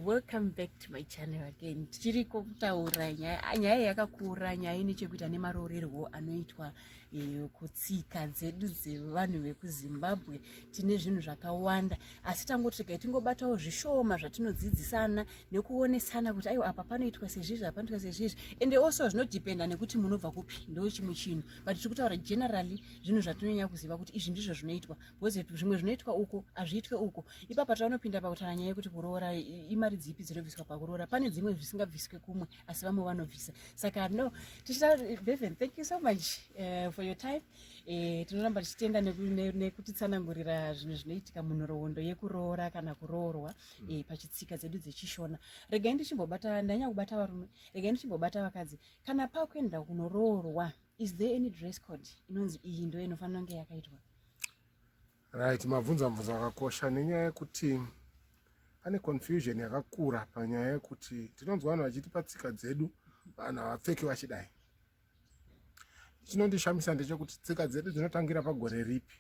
welcome back to my channel again tichiri kutaura nyaya yakakura nyaya ine chekuita nemaroorerwo anoitwa eh, kutsika dzedu dzevanhu vekuzimbabwe tine zvinhu zvakawanda asi tangoti regai tingobatawo zvishoma zvatinodzidzisana nekuonesana kuti aiwa apa panoitwa sezvizvi apanoitwa sezvizvi ende also zvinodependa nekuti munobva kupi ndo chimwe chinhu but tiri kutaura generally zvinhu zvatinonyanya kuziva kuti izvi ndizvo zvinoitwa because zvimwe zvinoitwa uko hazviitwe uko ipapa taunopinda pakutaura nyaya yekuti kuroora imari dzipi dzinobviswa pakuroora pane dzimwe zvisingabviswe kumwe asi vamwe vanobvisa saka no tichita beven thank you so much uh, for your time uh, tinoramba tichitenda nekutitsanangurira ne, ne zvinhu zvinoitika munhoroondo yekuroora kana kuroorwa mm. uh, pachitsika dzedu dzechishona regai ndichimbobata ndanyanya kubata varume regai ndichimbobata vakadzi kana pakuenda kunoroorwa is there any dress code inonzi iyi ndo inofanira kunge yakaitwa Right, mabvunza mubvunzo wakakosha nenyaya yekuti pane confusion yakakura panyaya yekuti tinonzwa vanhu vachiti patsika dzedu vanhu havapfeki vachidai. Chinondishamisa ndechekuti tsika dzedu dzinotangira pagore ripi?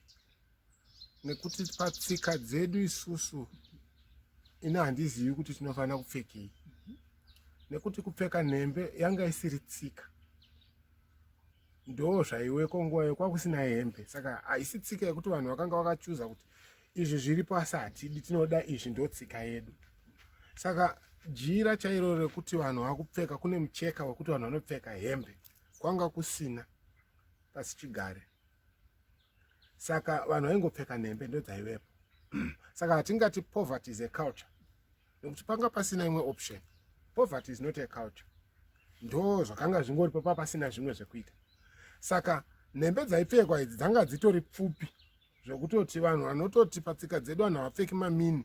Nekuti patsika dzedu isusu ini handizivi kuti tinofanira kupfekei, nekuti kupfeka nhembe yanga isiri tsika. ndoo zvaiweko nguva iyo kwakusina hembe saka haisi tsika yekuti vanhu vakanga vakachuza kuti izvi zviri pasi hatidi tinoda izvi ndo tsika yedu saka jira chairo rekuti vanhu vakupfeka kune mucheka wekuti vanhu vanopfeka hembe kwanga kusina pasi chigare saka vanhu vaingopfeka nhembe ndodzaivepo saka hatingati poverty is a culture nekuti panga pasina imwe option poverty is not a culture ndo zvakanga zvingori papa pasina zvimwe zvekuita saka nhembe dzaipfekwa idzi dzanga dzitori pfupi zvekutoti vanhu vanototi patsika dzedu vanhu havapfeki mamini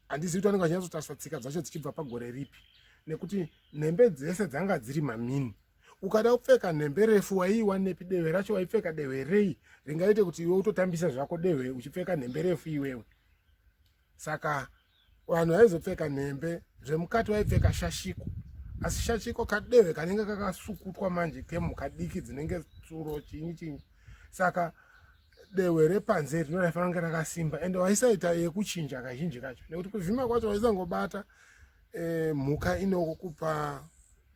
handizivi kuti vanenge vachinyatsotarisa tsika dzacho dzichibva pagore ripi nekuti nhembe dzese dzanga dziri mamini ukada kupfeka nhembe refu waiiwanepi dehwe racho waipfeka dehwe rei ringaite kuti iwe utotambisa zvako dehwe uchipfeka nhembe refu iwewe saka vanhu vaizopfeka nhembe zvemukati vaipfeka shashiko asi shashiko kadehwe kanenge kakasukutwa manje kemhuka diki dzinenge tsuro chinyi chinyi saka dehwe repanze rino raifanira kunge rakasimba ende waisaita yekuchinja kazhinji kacho nekuti kuvhima kwacho waisangobata e, mhuka inokupa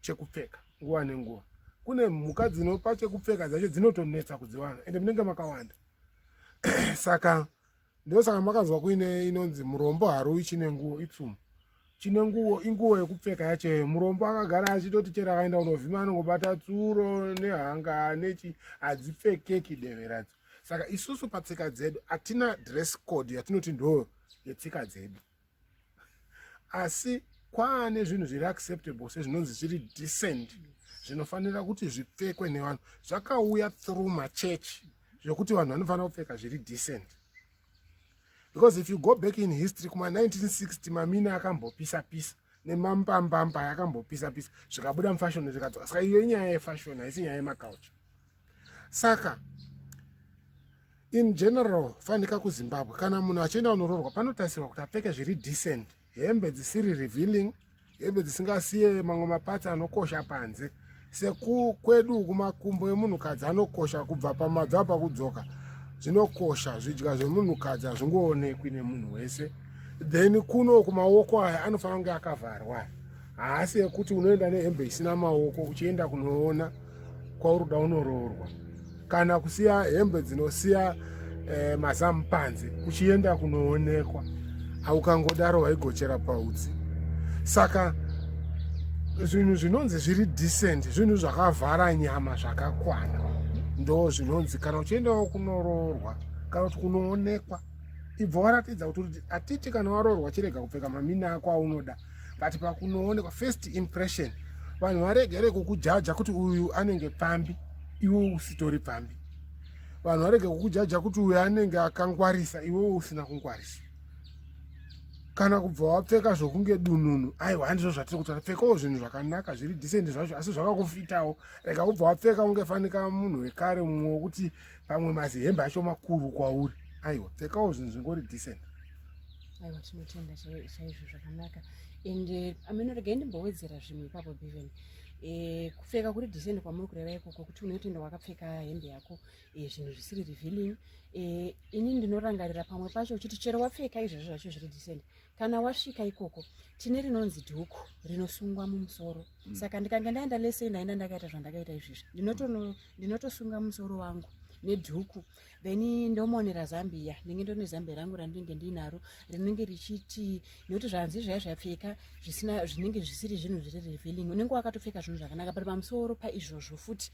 chekupfeka nguva nenguva kune mhuka dzinopa chekupfeka dzacho dzinotonetsa kudziwana ende munenge makawanda saka ndosaka makanzwa kuine inonzi murombo haruwi chine nguo ipsumo chine nguo inguo yekupfeka yacheyo murombo akagara achitoti chero akaenda kunovhima anongobata tsuro nehanga nechi hadzipfekeki deveradzo saka isusu patsika dzedu hatina dress code yatinoti ndo yetsika dzedu asi kwaane zvinhu zviri acceptable sezvinonzi zviri decent zvinofanira kuti zvipfekwe nevanhu zvakauya through machurch zvekuti vanhu vanofanira kupfeka zviri decent because if you go back in history kuma 1960 mamine akambopisa pisa nemambambamba yakambopisa pisa zvikabuda mufashoni zvikadzoka saka iyo inyaya yefashoni haisi nyaya yemacouture saka in general fanika kuzimbabwe kana munhu achienda kunoroorwa panotarisirwa kuti apfeke zviri decent hembe dzisiri revealing hembe dzisingasiye mamwe mapatsi anokosha panze sekukwedu kumakumbo emunhukadzi anokosha kubva pamabvi apa kudzoka zvinokosha zvidya zvemunhukadzi hazvingoonekwi nemunhu wese then kuno kumaoko aya anofanira kunge akavharwa haasi ekuti unoenda nehembe isina maoko uchienda kunoona kwauri kuda unoroorwa kana kusiya hembe dzinosiya eh, mazamu panze uchienda kunoonekwa aukangodaro waigochera pautsi saka zvinhu zvinonzi zviri decent zvinhu zvakavhara nyama zvakakwana ndo zvinonzi kana uchiendawo kunoroorwa kana kuti kunoonekwa ibva waratidza kuti atiti kana waroorwa chirega kupfeka mamini ako aunoda but pakunoonekwa first impression vanhu varegere kukujaja kuti uyu anenge pfambi iwe usitori pfambi vanhu varege kukujaja kuti uyu anenge akangwarisa iwewo usina kungwarisa kana kubva wapfeka zvokunge dununu aiwa handizvo zvatiri kuti pfekawo zvinhu zvakanaka zviri disendi zvacho asi zvakakufitawo rega kubva wapfeka ungefanika munhu wekare mumwe wokuti pamwe mazihembe acho makuru kwauri aiwa pfekawo zvinhu zvingori decent aiwa tinotenda chaizvo zvakanaka and eh, ameno regai ndimbowedzera zvimwe ipapo beven eh, kupfeka kuri decent kwamuri kureva ikoko kuti unotoenda wakapfeka hembe yako eh, zvinhu zvisiri revealing ini ndinorangarira pamwe pacho uchiti chero wapfeka izvezvo zvacho zviri decent kana wasvika ikoko tine rinonzi dhuku rinosungwa mumusoro mm. saka ndikange ndaenda lesei ndaenda ndakaita zvandakaita izvezvi ndinotono ndinotosunga musoro wangu nedhuku then ndomonera zambiya ndinge ndone zambiya rangu randinenge ndinaro rinenge richiti nekuti zvanzi zvaya zvapfeka zvisina zvinenge zvisiri zvinhu zviri revealing unenge wakatopfeka zvinhu zvakanaka but pamusoro paizvozvo futi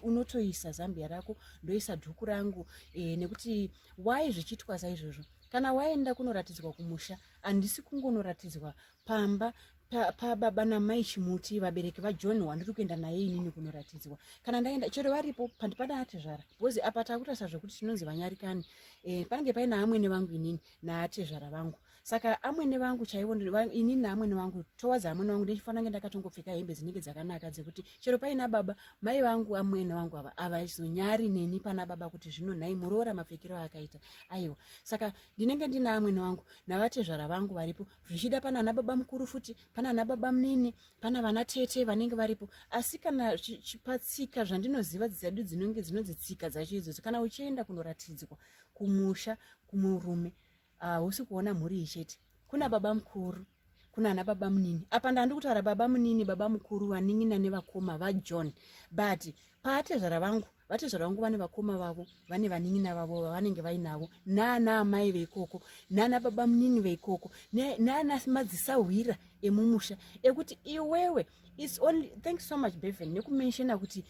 unotoisa zambiya rako ndoisa dhuku rangu e, nekuti why zvichiitwa saizvozvo kana waenda kunoratidzwa kumusha handisi kungonoratidzwa pamba pababa pa namai chimuti vabereki vajohn wandiri kuenda naye inini kunoratidzwa kana ndaenda chero varipo pandipana atezvara bcoz apa takutarisa zvekuti tinonzi vanyarikani e, panenge paina amwene vangu inini naatezvara vangu saka amwene vangu chaivo inini naamwene vangu towards amwene vangu ndichifanira kunge ndakatongopfeka hembe dzinenge dzakanaka dzekuti chero paina baba mai vangu amwene vangu ava avazonyari neni pana baba kuti zvino nhai muroora mapfekero aakaita aiwa saka ndinenge ndina amwene vangu navatezvara vangu varipo zvichida pana ana baba mukuru futi pana ana baba munini pana vana tete vanenge varipo asi kana patsika zvandinoziva dzedu dzinonge dzinonzi tsika dzacho idzodzo kana uchienda kunoratidzwa kumusha kumurume hausi uh, kuona mhuri ichete kuna baba mukuru kuna ana baba munini apa ndandi kutaura baba munini baba mukuru vanin'ina nevakoma vajohn but paatezvara vangu vatezvara vangu vane vakoma vavo vane vanin'ina vavo vavanenge vainavo naana amai veikoko naana baba munini veikoko naana madzisahwira emumusha ekuti iwewe its only thanks so much beven nekumenshona kuti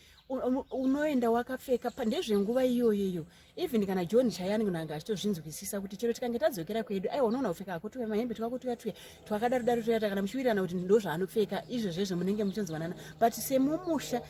unoenda wakapfeka pandezvenguva iyoyo iyo even kana john chayani kunanga achitozvinzwisisa kuti chero tikange tadzokera kwedu aiwa unoona kupfeka hako tuya mahembe twako tuya tuya twakadaro daro toyata kana muchiwirirana kuti ndozvaanopfeka izvezvezvo munenge muchinzwanana but semumusha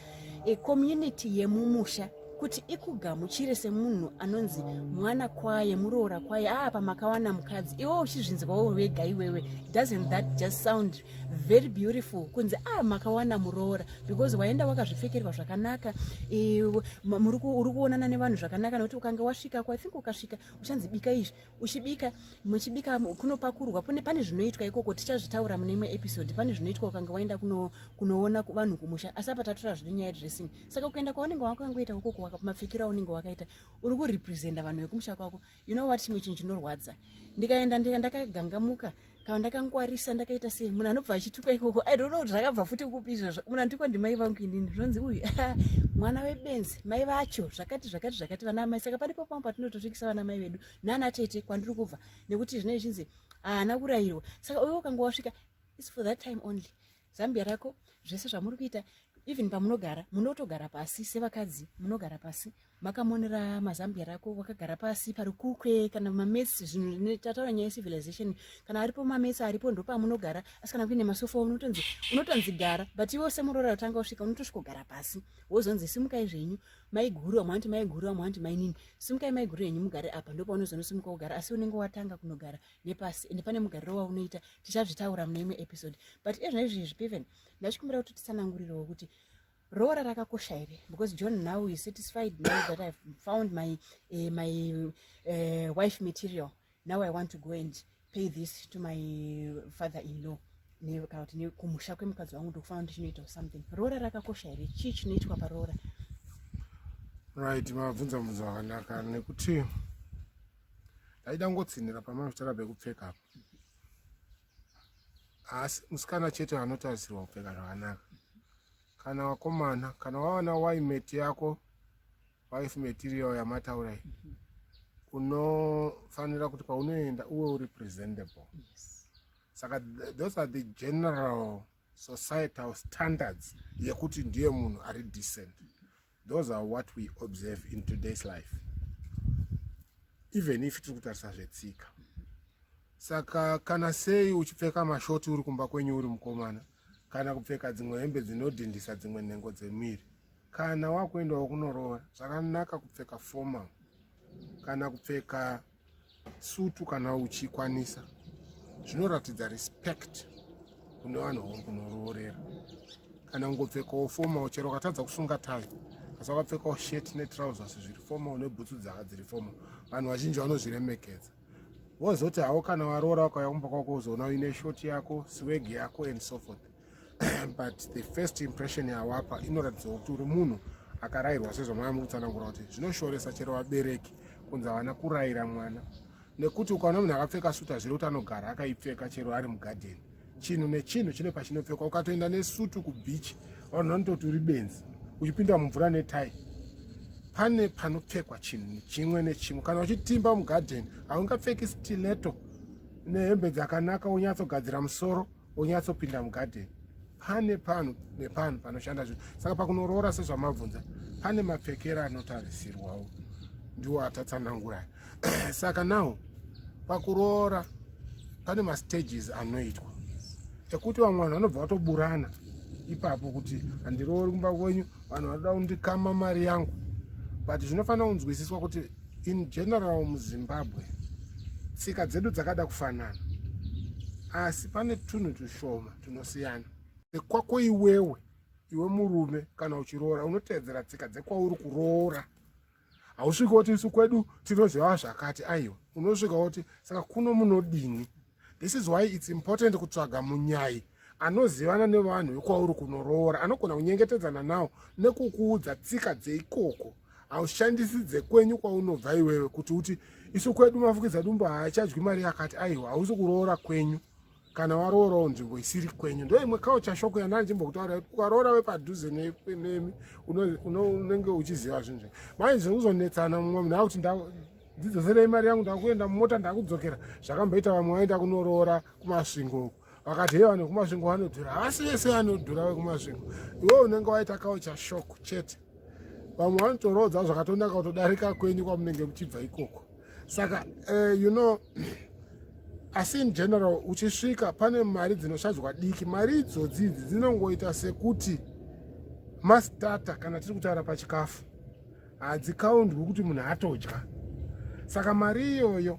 e community yemumusha kuti ikugamuchire semunhu anonzi mwana kwaye muroora kwaye aa ah, pamakawana mukadzi iwe uchizvinzwawo wega iwewe doesn't that just sound very beautiful kunzi a ah, makawana muroora because waenda wakazvipfekerwa zvakanaka uri kuonana nevanhu zvakanaka nokuti ukange wasvika ko ithink ukasvika uchanzi bika izvi uchibika muchibika kunopakurwa pune pane zvinoitwa ikoko tichazvitaura mune imwe episode pane zvinoitwa ukanga waenda kuno, kunoona vanhu kumusha asi apa tatura zvine nyaya dressing saka ukaenda kwaunenge wakangoita ukoko wakamapfikira unenge wakaita uri kurepresenta vanhu vekumusha kwako you know what chimwe chinhu chinorwadza ndikaenda ndika ndakagangamuka kana ndakangwarisa ndakaita sei munhu anobva achituka ikoko i don't know kuti zvakabva futi kupi izvozvo munhu anditukwa ndimai vangu inini zvinonzi uyu mwana webenzi mai vacho zvakati zvakati zvakati vana amai saka pane papamwe patinotosvikisa vana mai vedu nana tete kwandiri kubva nekuti zvinei zvinzi haana kurayirwa saka uyo ukanga wasvika is for that time only zambia rako zvese zvamuri kuita even pamunogara munotogara pasi sevakadzi munogara pasi makamonera mazambia rako wakagara pasi parikukwe kana mamesi zvinhu tataura nyaya yecivilization kana aripo mamesi aripo ndopamunogara asi kana kuine masofa unotonzi unotonzi gara but iwe semuroora utanga usvika unotosvikogara pasi wozonzi simukai zvenyu maiguru amwe anoti maiguru amwe anoti mainini simukai maiguru yenyu mugare apa ndopaunozonosimuka kugara asi unenge watanga kunogara nepasi ende pane mugariro waunoita tichazvitaura mune imwe episode but ezvino izvizvi piven ndachikumbira kuti titsanangurirewo kuti roora rakakosha here because john now is satisfied now that ive found my, uh, my uh, wife material now i want to go and pay this to my father in law kana kuti nekumusha kwemukadzi wangu ndokufana kuti chinoitawo something roora rakakosha here chii chinoitwa paroora right mabvunza mubvunzo akanaka nekuti ndaida kungotsinhira pamanotaura pekupfeka apo asi musikana chete anotarisirwa kupfeka zvakanaka kana wakomana kana wawana waimeti yako wife material yamataura iyi unofanira kuti paunoenda uwe uri presentable saka those are the general societal standards yekuti ndiye munhu ari decent those are what we observe in today's life even if tiri kutarisa zvetsika saka kana sei uchipfeka mashoti uri kumba kwenyu uri mukomana kana kupfeka dzimwe hembe dzinodhindisa dzimwe nhengo dzemiri kana wakuendawo kunoroora zvakanaka kupfeka formal kana kupfeka sutu kana uchikwanisa zvinoratidza respect kune vanhu vakunoroorera kana kungopfekawo fomal chero ukatadza kusunga tai asi wakapfekawo shirt netrousers zviri fomal nebhutsu dzaka dziri fomal vanhu vazhinji vanozviremekedza wozoti hawo kana waroora wakauya kumba kwako uzoona uine short yako sweg yako and so forth but the first impression yawapa inoratidza kuti uri munhu akarayirwa sezvamwaya mukutsanangura kuti zvinoshoresa chero vabereki kunzi havana kurayira mwana nekuti ukaona munhu akapfeka sutu hazviri kuti anogara akaipfeka chero ari mugadheni chinhu nechinhu chine pachinopfekwa ukatoenda nesutu kubichi vanhu vanototi uri benzi uchipinda mumvura netai pane panopfekwa chinhu chimwe nechimwe kana uchitimba mugadheni haungapfeki stileto nehembe dzakanaka wonyatsogadzira musoro onyatsopinda mugadheni pane pano nepano panoshanda zvinhu saka pakunoroora sezvamabvunza pane mapfekera anotarisirwawo ndiwo atatsananguraya saka nawo pakuroora pane mastages anoitwa ekuti vamwe vanhu vanobva vatoburana ipapo kuti handiroori kumba kwenyu vanhu vanoda kundikama mari yangu but zvinofanira kunzwisiswa kuti In general muZimbabwe tsika dzedu dzakada kufanana asi pane tunhu tushoma tunosiyana. Kwako iwewe iwe murume kana uchiroora unoteedzera tsika dzekwauri kuroora hausviki woti isu kwedu tinoziva zvakati aiwa unosvika woti saka kuno munodini this is why its important kutsvaga munyai anozivana nevanhu vekwauri kunoroora anogona kunyengetedzana nawo nekukuudza tsika dzeikoko haushandisi dzekwenyu kwaunobva iwewe kuti uti isu kwedu mafukidza dumbo haachadyi mari yakati aiwa hausi kuroora kwenyu kana waroorawo nzvimbo isiri kwenyu ndo imwe kaucha shoko yandana ndichimbokutaura kuti ukaroora wepadhuze nemi unenge uchiziva zvinhu zve mai zvinhu kuzonetsana mumwe munhu akuti ndidzoserei mari yangu ndakuenda mumota ndakudzokera zvakamboita vamwe vaenda kunoroora kumasvingo uku vakati hei vanhu vekumasvingo vanodhura havasi vese vanodhura vekumasvingo iwe unenge waita kaucha shok chete vamwe vanotoroodza zvakatonaka kutodarika kwenyu kwamunenge muchibva ikoko saka uh, you know asi in general uchisvika pane mari dzinoshadzwa diki mari idzodzi idzi dzinongoita sekuti mastata kana tiri kutaura pachikafu hadzikaundwi kuti munhu atodya saka mari iyoyo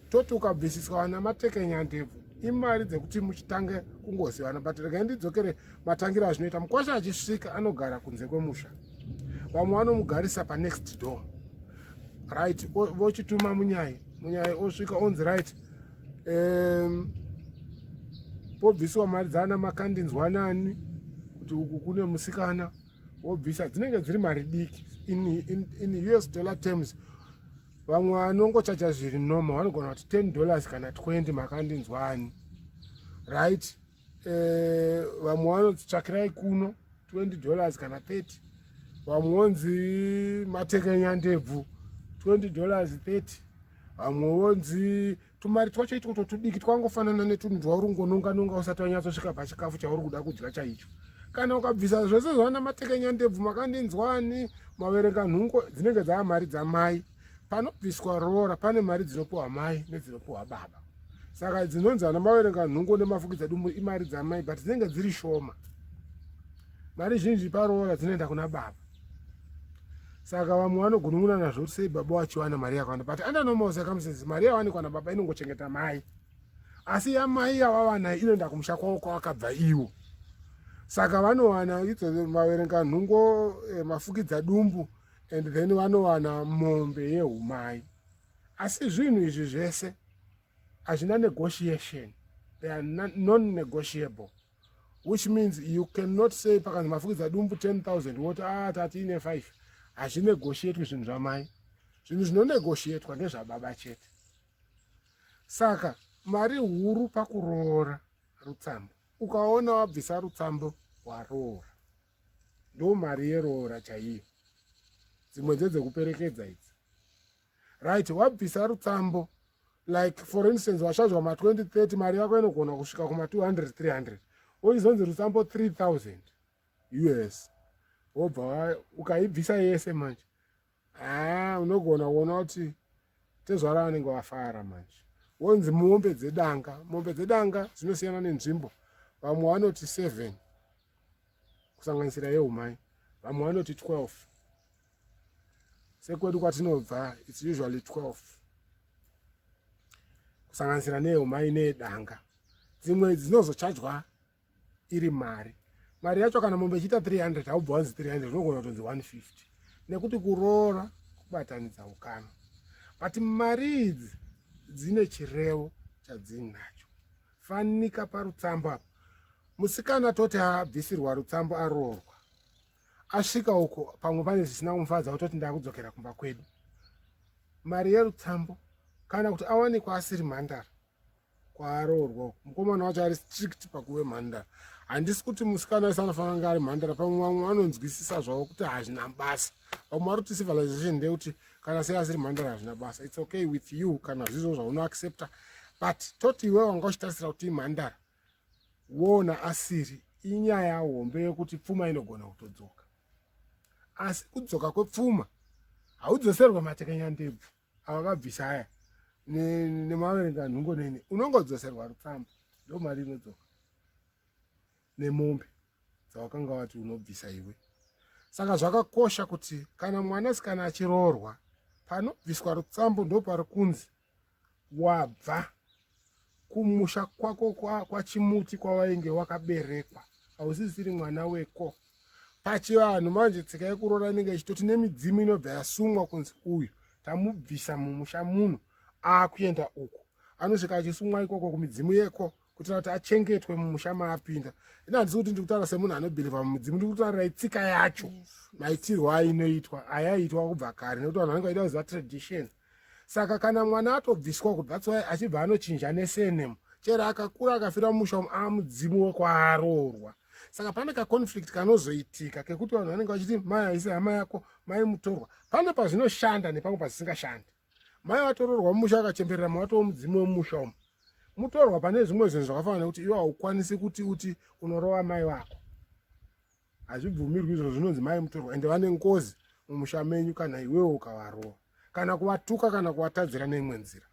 toti ukabvisiswa vana matekenya ndebvu imari dzekuti muchitange kungozivana but regai ndidzokere matangiro azvinoita mukwasha achisvika anogara kunze kwemusha vamwe vanomugarisa panext door right vochituma munyai munyai osvika onzi right um, pobvisiwa mari dzaana makandinzwanani kuti uku kune musikana wobvisa dzinenge dziri mari diki in, in, in us dollar terms vamwe vanongochacha zviri normal vanogona kuti 10 dollars kana 20 makandinzwani right eh, vamwe vanotsvakirai kuno 20 dollars kana 30 vamwe vonzi matekenya ndebvu 20 dollars 30 vamwe vonzi tumari twacho itwoto tudiki twangofanana netunhu twauri ngononga nonga usati wanyatsosvika pachikafu chauri kuda kudya chaicho kana ukabvisa zvese zvana matekenya ndebvu makandinzwani maverenga nhungo dzinenge dzava mari dzamai panobviswa roora pane mari dzinopiwa mai nedzinopiwa baba saka dzinonzi ana maverenga nhungo nemafukidza dumbu imari dzamai but dzinenge dziri shoma mari zhinji paroora dzinoenda kuna baba saka vamwe vanogunun'una nazvo kuti sei baba wachiwana mari yakawanda but under normal circumstances mari yawanikwa nababa inongochengeta mai asi yamai yawavanayo inoenda kumusha kwavo kwavakabva iwo saka vanowana idzo vaverenga nhungo eh, mafukidza dumbu and then vanowana mombe yeumai asi zvinhu izvi zvese hazvina negotiation they are non-negotiable which means you cannot say pakanzi mafukidza dumbu 10000 woti a ah, tatiine 5 hazvinegotiatwi zvinhu zvamai zvinhu zvinonegotiatwa ndezvababa chete saka mari huru pakuroora rutsambo ukaona wabvisa rutsambo waroora ndo mari yeroora chaiyo dzimwe dzedzekuperekedza idzi right wabvisa rutsambo like for instance washazwa ma 2030 mari yako inogona kusvika kuma 200 300 wochizonzi rutsambo 3000 us wobva ukaibvisa yese manje haa ah, unogona kuona kuti tezvara vanenge vafara manje wonzi mombe dzedanga mombe dzedanga dzinosiyana nenzvimbo vamwe vanoti seven kusanganisira yeumai vamwe vanoti twelve sekwedu kwatinobva its usually 12 kusanganisira nehumai nedanga dzimwe idzi dzinozochajwa iri mari mari yacho kana mombe ichiita 300 haubva wanzi 300 unogona kutonzi 150 nekuti kuroora kubatanidza ukama but mari idzi dzine chirevo chadzinacho fanika parutsambo apo musikana toti abvisirwa rutsambo aroorwa asvika uko pamwe pane zvisina kumufadza kutoti ndakudzokera kumba kwedu mari yerutsambo kana kuti awanikwa asiri mhandara kwaaroorwa uko mukomana wacho ari strict pakuve mhandara handisi kuti musikana wese anofanira kunge ari mhandara pamwe vamwe vanonzwisisa zvavo kuti hazvina basa vamwe vari kuti civilization ndeyekuti kana sei asiri mhandara hazvina basa its okay with you kana zvizvo zvaunoaccepta but toti iwe wanga uchitarisira kuti imhandara woona asiri inyaya hombe yekuti pfuma inogona kutodzoka asi kudzoka kwepfuma haudzoserwe matekenya ndebvu ava vabvisa aya nemaverenga nhungo neni unongodzoserwa rutsamba ndo mari inodzoka nemombe dzawakanga wati unobvisa iwe saka zvakakosha kuti kana mwanasikana achiroorwa panobviswa rutsambo ndo pari kunzi wabva kumusha kwako kwachimuti kwa kwawainge wakaberekwa hausisiri mwana weko pachivanhu manje tsika yekuroora inenge ichitoti nemidzimu inobva yasungwa kunzi uyu tamubvisa mumusha muno akuenda uku anosvika achisumwa ikoko kumidzimu yeko kuitira kuti achengetwe mumusha maapinda ini handisi kuti ndikutaura semunhu anobhilivha mumudzimu ndiri kutaurira itsika yacho maitirwo ainoitwa ayaitwa kubva kare nekuti vanhu vanenge vaida kuziva traditions saka kana mwana atobviswa uko that's why achibva anochinja nesenemu chero akakura akafira mumusha umu amudzimu wekwaroorwa saka pane kaconflict kanozoitika kekuti vanhu vanenge vachiti mai haisi hama yako mai mutorwa pane pazvinoshanda nepamwe pazvisingashandi mai vatororwa mumusha vakachemberera mawatoo mudzimu wemumusha umu mutorwa pane zvimwe zvinhu zvakafanana nekuti iwe haukwanisi kuti uti unorova mai vako hazvibvumirwi izvo zvinonzi mai mutorwa ende vane ngozi mumusha menyu kana iwewo ukavarova kana kuvatuka kana kuvatadzira neimwe nzira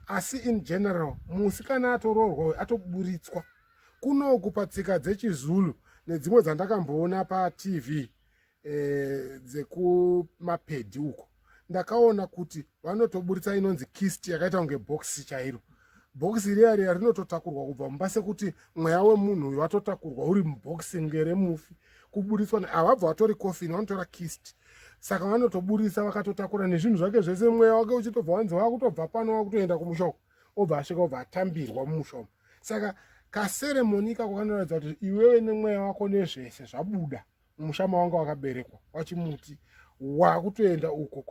asi in general musi kana atoroorwa uyo atoburitswa kunoku patsika dzechizulu nedzimwe dzandakamboona patv eh, dzekumapedhi uko ndakaona kuti vanotoburitsa inonzi kist yakaita kunge bhokisi chairo bhokisi riya riya rinototakurwa kubva mumba sekuti mweya wemunhu uyu watotakurwa uri mubhokisi nge remufi kuburitswa havabva vatori coffin vanotora kist saka vanotoburitsa vakatotakura nezvinhu zvake zvese mweya wake uchitobva wanzi wakutobva pano wakutoenda kumushoko obva asvika obva atambirwa mumushomo saka kaseremoni ikako kanoratidza kuti iwewe nemweya wako nezvese zvabuda musha mawanga wakaberekwa wachimuti wakutoenda uko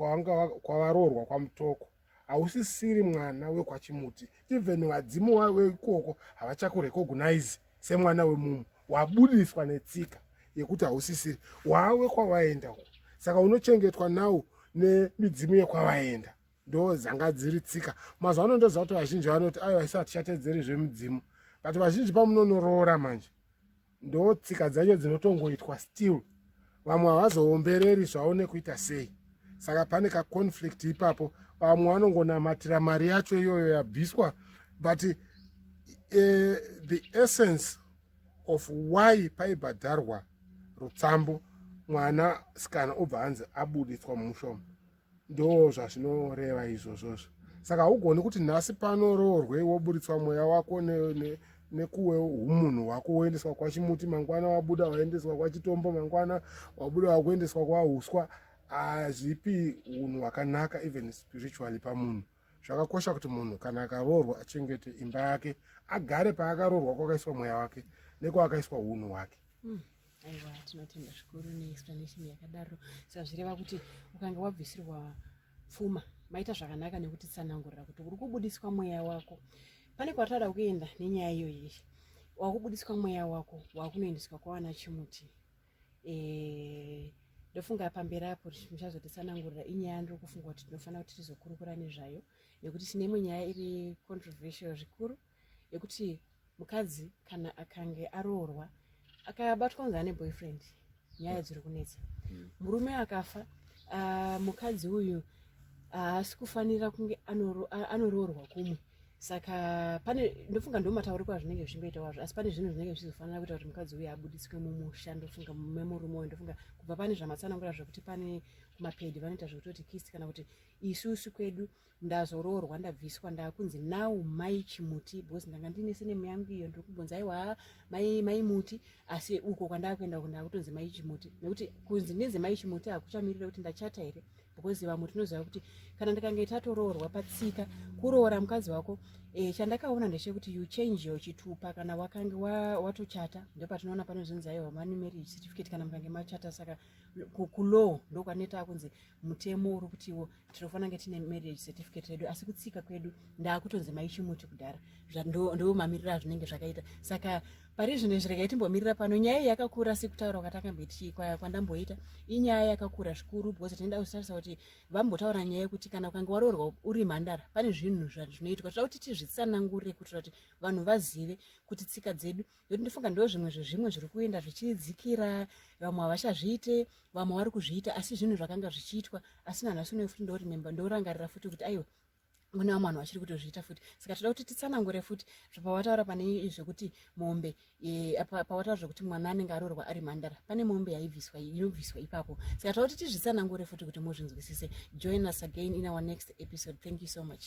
kwavaroorwa kwamutoko hausisiri mwana wekwachimuti even vadzimu waweikoko havachakurekognaizi semwana wemumwe wabudiswa netsika yekuti hausisiri wawe kwavaenda uko saka unochengetwa now nemidzimu yekwavaenda ndo dzanga dziri tsika mazuva ano ndoziva kuti vazhinji vanoti aiwa isi hatichatedzeri zvemidzimu but vazhinji pamunonoroora manje ndo tsika dzacho dzinotongoitwa still vamwe havazoombereri zvavo nekuita sei saka pane kaconflict ipapo vamwe vanongonamatira mari yacho iyoyo yabviswa but uh, the essence of why paibhadharwa rutsambo mwana sikana obva hanzi abuditswa mumushomo ndoo zvazvinoreva izvozvozvo saka haugoni kuti nhasi panoroorwe woburitswa mweya wako nekuwe umunhu hwako woendeswa kwachimuti mangwana wabuda waendeswa kwachitombo mangwana wabuda wakuendeswa kwauswa hazvipi unhu hwakanaka even spiritually pamunhu zvakakosha kuti munhu kana akaroorwa achengete imba yake agare paakaroorwa kwakaiswa mweya wake nekwaakaiswa unhu hwake mm. aiwa tinotenda zvikuru neexplanation yakadaro sazvireva kuti ukange wabvisirwa pfuma maita zvakanaka nekuti tsanangurira kuti uri kubudiswa mweya wako pane kwatara kuenda nenyaya iyo yiri wakubudiswa mweya wako wakunoendeswa kwawana chimuti eh, ndofunga pamberi apo muchazotitsanangurira inyaya ndiri kufunga kuti tinofanira kuti tizokurukura nezvayo nekuti tine imwe nyaya iri controversial zvikuru yekuti mukadzi kana akange aroorwa akabatwa kunge ane boyfriend nyaya dziri kunetsa hmm. murume akafa ah, mukadzi uyu haasi kufanira kunge anoroorwa kumwe saka pane ndofunga ndomatauriko azvinenge zvichingoita wazvo asi pane zvinhu zvinenge zvichizofanira kuita kuti mukadzi uyu abudiswe mumusha ndofunga memurume uyu ndofunga kubva pane zvamatsanangura zvekuti pane kumapedi vanoita zvekutoti kisi kana kuti isusu kwedu ndazoroorwa ndabviswa ndakunzi now mai chimuti because ndanga ndine senemu yangu iyo ndiri kubvunza aiwa mai mai muti asi uko kwandakuenda uko ndakutonzi mai chimuti nekuti kunzi ndinzi mai chimuti hakuchamirira kuti ndachata here because vamwe tinoziva kuti kana ndikange tatoroorwa patsika kuroora mukadzi wako e, chandakaona ndechekuti you change your chitupa kana wakange watochata wa ndopatinoona panozonzi aiwa mani marriage certificate kana mukange machata saka kulow ndokwaneta kunzi ku mutemo uri kutiwo tinofanira kunge tine marriage certificate redu asi kutsika kwedu ndaakutonzi maichimuti kudhara ndoo mamiriro azvinenge zvakaita saka pari zvino zviregai timbomirira pano nyaya iyi yakakura sekutaura kwatakamboiti kwandamboita inyaya yakakura zvikuru because tinoda kuzitarisa kuti vambotaura nyaya yekuti kana ukange waroorwa uri mhandara pane zvinhu zvinoitwa toda kuti tizvitsanangurire kuitira kuti vanhu vazive kuti tsika dzedu Ndokuti ndofunga ndo zvimwe zvezvimwe zviri kuenda zvichidzikira vamwe havachazviite vamwe vari kuzviita asi zvinhu zvakanga zvichiitwa asi nanhasi unoe futi ndorememba ndorangarira futi kuti aiwa mune vamwe vanhu vachiri kutozviita futi saka toda kuti titsanangure futi zvapawataura pane zvekuti mombe eh, pawataura zvekuti mwana anenge arorwa ari mhandara pane mombe yaibviswa inobviswa ipapo saka toda kuti tizvitsanangure futi kuti muzvinzwisise join us again in our next episode thank you so much